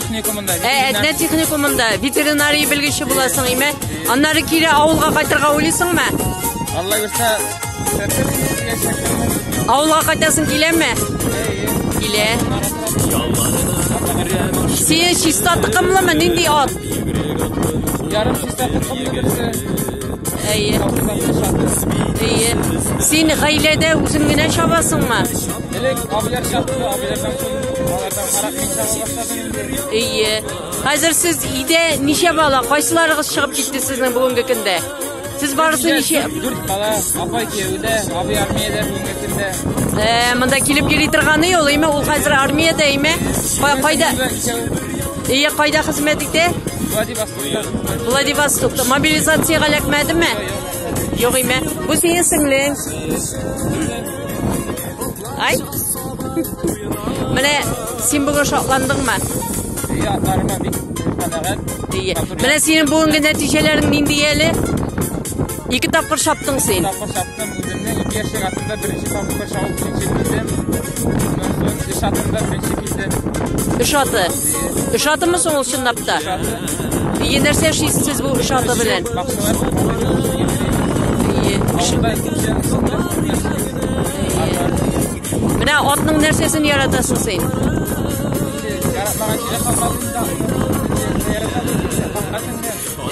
техникумында. Ә Әтнә техникумында ветеринария белгече буласың, име? Аннары кире авылга кайтырга уйлыйсыңмы? Алла бирсә, Авылга кайтасың киләме? Килә. Син чиста тыкымлымы? Нинди ат? Ярым чиста тыкымлы берсе. Әйе. Әйе. Син гаиләдә үзең генә чабасыңмы? Элек абыйлар чабды, абыйлардан соң Әйе. Хәзер сез өйдә ничә бала, кайсыларыгыз чыгып китте сезнең бүгенге көндә? Сез барысы ничә? Дүрт бала, апа кияүдә, абый армиядә бүгенге көндә. Ә, монда килеп йөри торганы ул, әйме? Ул хәзер армиядә, әйме? Кайда? Әйе, кайда хезмәт итә? Владивостокта. Владивостокта. Мобилизациягә эләкмәдеме? Юк, әйме. Бу синең сеңлең. Ай? Менә син бүген шатландыңмы? Ия, атларыма бик канәгать. Ия. Менә синең бүгенге нәтиҗәләрең нинди әле? Ике тапкыр шаптың син. Тапкыр шаптым үземне ике яшьлек атында беренче тапкыр шауып икенче килдем. Шатында беренче килдем. Өш аты. Эш атымы соң ул чынлап та? Ие, нәрсә эшлисез сез бу эш аты белән? Ие. Менә атның нәрсәсен яратасың син?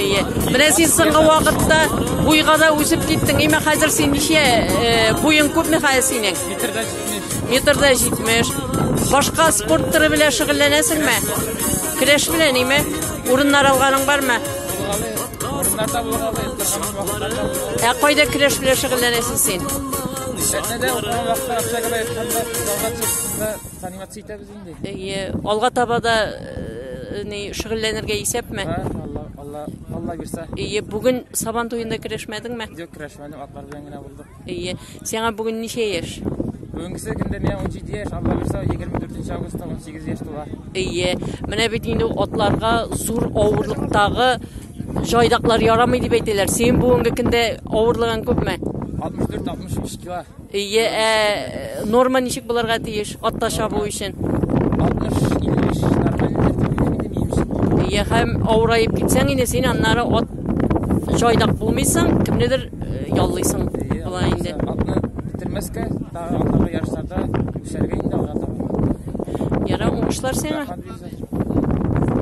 Ие. Менә син соңгы вакытта буйга да үсеп киттең. Имә хәзер син ничә э, буең күпме хәзер синең? Метрдән Метрда 70. Башка спорт төре белән шөгыльләнәсеңме? Көрәш белән име? Урыннар алганың бармы? Ә кайда көрәш белән шөгыльләнәсең син? Сәтнәдә укыган вакытта общагада ятканда залга чыкканда занимация итәбез инде. Әйе, алга таба да э, ни шөгыльләнергә исәпме? Ха, Алла, Алла, Алла бирсә. Әйе, бүген Сабан туенда көрәшмәдеңме? Юк, керәшмәдем, атлар белән генә булдык. Әйе. Сиңа бүген ничә яшь? Бүгенгесе көндә миңа 17 яшь, Алла бирсә, 24 августта 18 яшь тула. Әйе. Менә бит инде атларга зур авырлыктагы җайдаклар ярамый дип әйтәләр. Син бүгенге көндә авырлыгың күпме? 64-63 кило. Әйе, ә норма ничек булырга тиеш атта чабу өчен? 60-55 нормально дип әйтәм. Әйе, һәм авыраеп китсәң инде син аннары ат җайдак булмыйсың, кемнедер яллыйсың болай инде. Атны бетермәскә, тагы атны ярышларда үсәргә инде алга таба. Ярар, уңышлар сиңа.